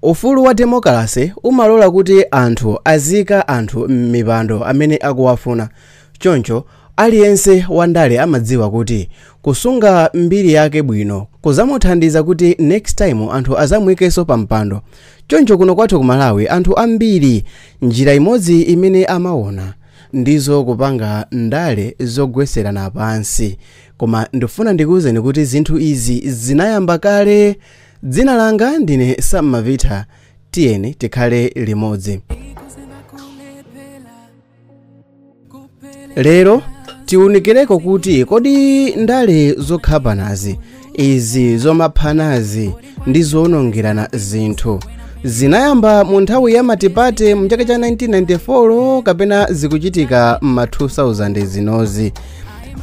Ufulu wa demokilase umalola kuti anthu aziika anthu m'mipando amene akuwafuna. Choncho, aliyense wandale amadziwa kuti kusunga mbiri yake bwino kuzamuthandiza kuti next time anthu azamuikenso pampando. Choncho kuno kwathu ku Malawi anthu ambiri njira imodzi imene amaona ndizo kupanga ndale zogweserana pansi. Koma ndifuna ndikuuzeni kuti zinthu izi zinayamba kale. Dzina langa ndine Sam Mavitha, tiyeni tikhale limodzi. Lero tiunikireko kuti kodi ndale zokhapanazi izi zomaphanazi ndi zoonongerana zinthu zinayamba mu nthawi ya matipate mchaka cha 1994 kapena zikuchitika m'ma 2000 zinozi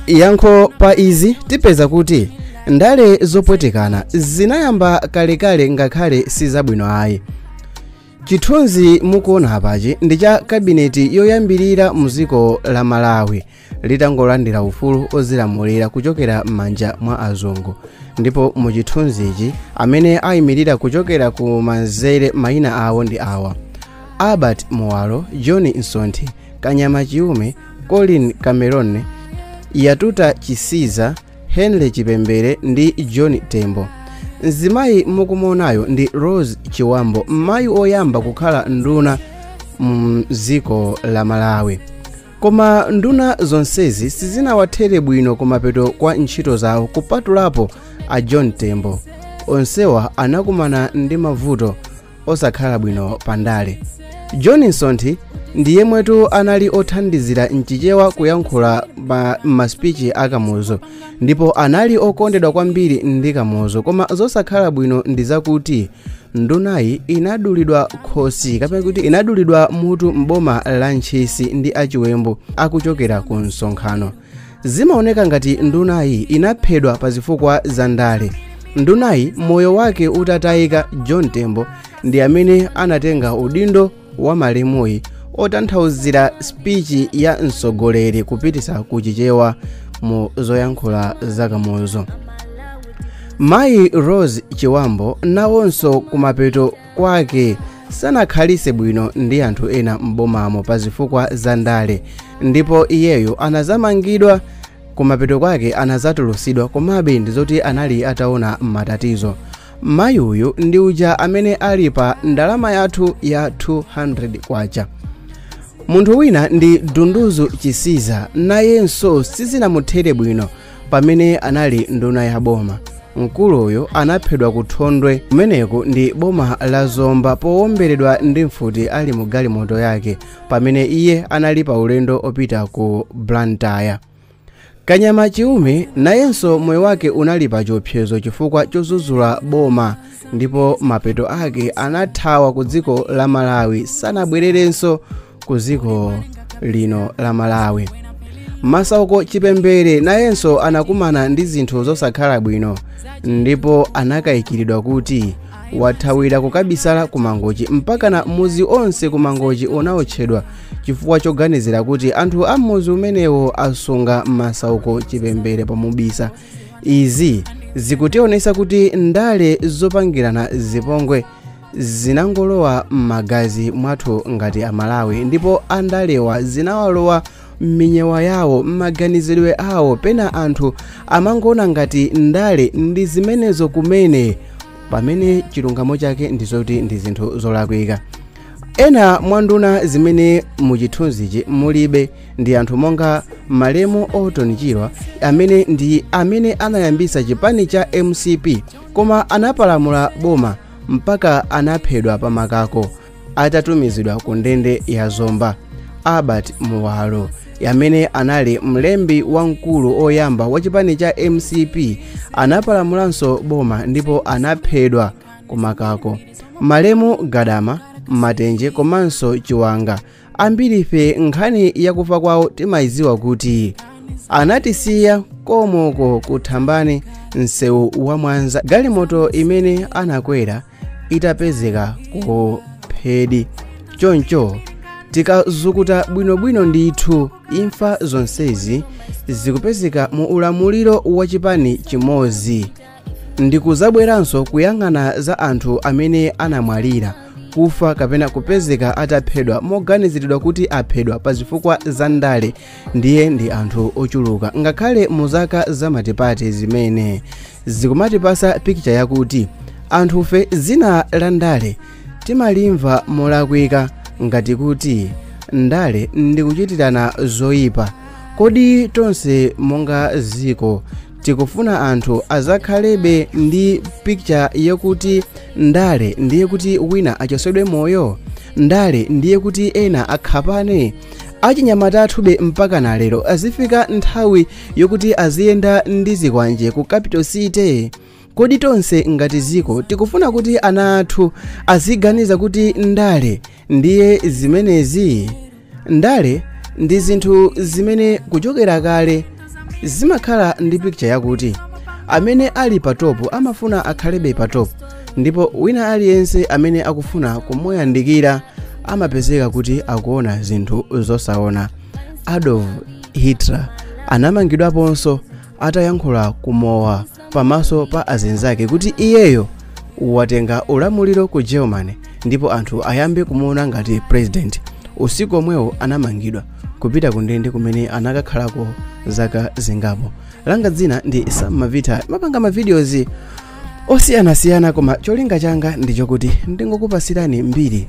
yankho pa izi tipeza kuti ndale zopwetekana zinayamba kalekale ngakhale si zabwino ayi chithunzi mukuona apachi ndi cha kabineti yoyambirira mu dziko la malawi litangolandira ufulu ozilamulira kuchokera m'manja mwa azungu ndipo mu chithunzichi amene ayimirira kuchokera ku manzere mayina awo ndi awa albert muwalo john msonthi kanyama chiume colin cameron yatuta chisiza henry chipembere ndi john tembo mzimayi mukumuonayo ndi rose chibambo mayi oyamba kukhala nduna mdziko la malawi koma nduna zonsezi sizinawathere bwino kumapeto kwa ntchito zawo kupatulapo a john tembo onsewa anakumana ndi mavuto osakhala bwino pa ndale john msonthi ndi yemwetu anali othandizira mchichewa kuyankhula masipichi a kamuzu ndipo anali okondedwa kwambiri ndi kamuzu koma zosakhala bwino ndi zakuti ndunayi inadulidwa khosi kapena kuti inadulidwa mutu m'boma la ntchisi ndi achiwembu akuchokera ku msonkhano zimaoneka ngati ndunayi inaphedwa pa zifukwa za ndale ndunayi moyo wake utatayika john tembo ndi amene anatenga udindo wa malemuyi otanthauzira spichi ya msogoleri kupitisa ku chichewa mu zoyankhula za kamuzu mayi rose chibambo nawonso kumapeto kwake sanakhalise bwino ndi anthu ena m'bomamo pa zifukwa za ndale ndipo iyeyo anazamangidwa kumapeto kwake anazatulusidwa komabe ndi zoti anali ataona matatalazi mayi uyu ndi uja amene ali pa ndalama yathu ya 200 kwacha munthu wina ndi dunduzu chisiza nayenso sizinamuthere bwino pamene anali nduna ya boma mkuluyu anaphedwa ku thondwe kumeneku ndi boma la zomba powomberedwa ndi mfuti ali mu galimoto yake pamene iye anali pa ulendo opita ku blantyre kanyama chiume nayenso moyo wake unali pa chiopsezo chifukwa chodzudzula boma ndipo mapeto ake anathawa ku dziko la malawi sanabwererenso ku dziko lino la malawi masauko chipembere nayenso anakumana ndi zinthu zosakhala bwino ndipo anakayikiridwa kuti wathawira kukabisala ku mangochi mpakana mudzi onse ku mangochi unawotchedwa chifukwa choganizira kuti anthu a m'mudzi umenewo asunga masauko chipembere pomubisa izi zikutionesa kuti ndale zopangirana zipongwe zinangolowa m'magazi mwathu ngati amalawi ndipo andalewa zinawalowa m'minyewa yawo m'maganizidwe awo pena anthu amangoona ngati ndale ndi zimenezo kumene pamene chilungamo chake ndi zoti ndi zinthu zolakwika ena mwa nduna zimene muchithunzichi mulibe ndi anthu monga malemu orton chirwa amene ndi amene anayambisa chipani cha mcp koma anapalamula boma mpaka anaphedwa pamakako atatumizidwa ku ndende ya zomba albert muwalo amene anali mlembi wamkulu oyamba wa chipani cha mcp anapalamulanso boma ndipo anaphedwa kumakako malemu gadama matenje komanso chiwanga ambirife nkhani yakufa kwawo timayidziwa kuti anatisiya komoko ku thambani msewu wa mwanza galimoto imene anakwera itapezeka kuphedi choncho tikazukuta bwinobwino ndithu imfa zonsezi zikupezeka mu ulamuliro wa chipani chimodzi ndikudzabweranso kuyang'ana za anthu amene anamwalira kufa kapena kupezeka ataphedwa moganiziridwa kuti aphedwa pa zifukwa za ndale ndiye ndi anthu ochuluka ngakhale mu zaka za multiparty zimene zikumatipatsa picture yakuti anthufe zina la ndale timalimva molakwika ngati kuti ndale ndikuchitirana zoyipa kodi tonse monga dziko tikufuna anthu adzakhalebe ndi picture yokuti ndale ndiye kuti wina achotsedwe moyo ndale ndiye kuti ena akhapane achinyamata athube mpaka na lero adzifika nthawi yokuti adziyenda ndi zikwanje ku capital city kodi tonse ngati dziko tikufuna kuti ana athu aziganiza kuti ndale ndiye zimenezi ndale ndi zinthu zimene kuchokera kale zimakhala ndi pikicha yakuti amene ali pa topu amafuna akhalebe pa topu ndipo wina aliyense amene akufuna kumuyandikira amapezeka kuti akuona zinthu zosaona adolf hitler anamangidwaponso atayankhula kumowa pamaso pa azinzake kuti iyeyo watenga ulamuliro ku germany ndipo anthu ayambe kumuona ngati president usiku omwewo anamangidwa kupita ku ndende kumene anakakhalako zaka zingapo langa dzina ndi sam mavita mapanga mavideos osiyanasiyana koma cholinga changa ndichokuti ndingokupasirani mbiri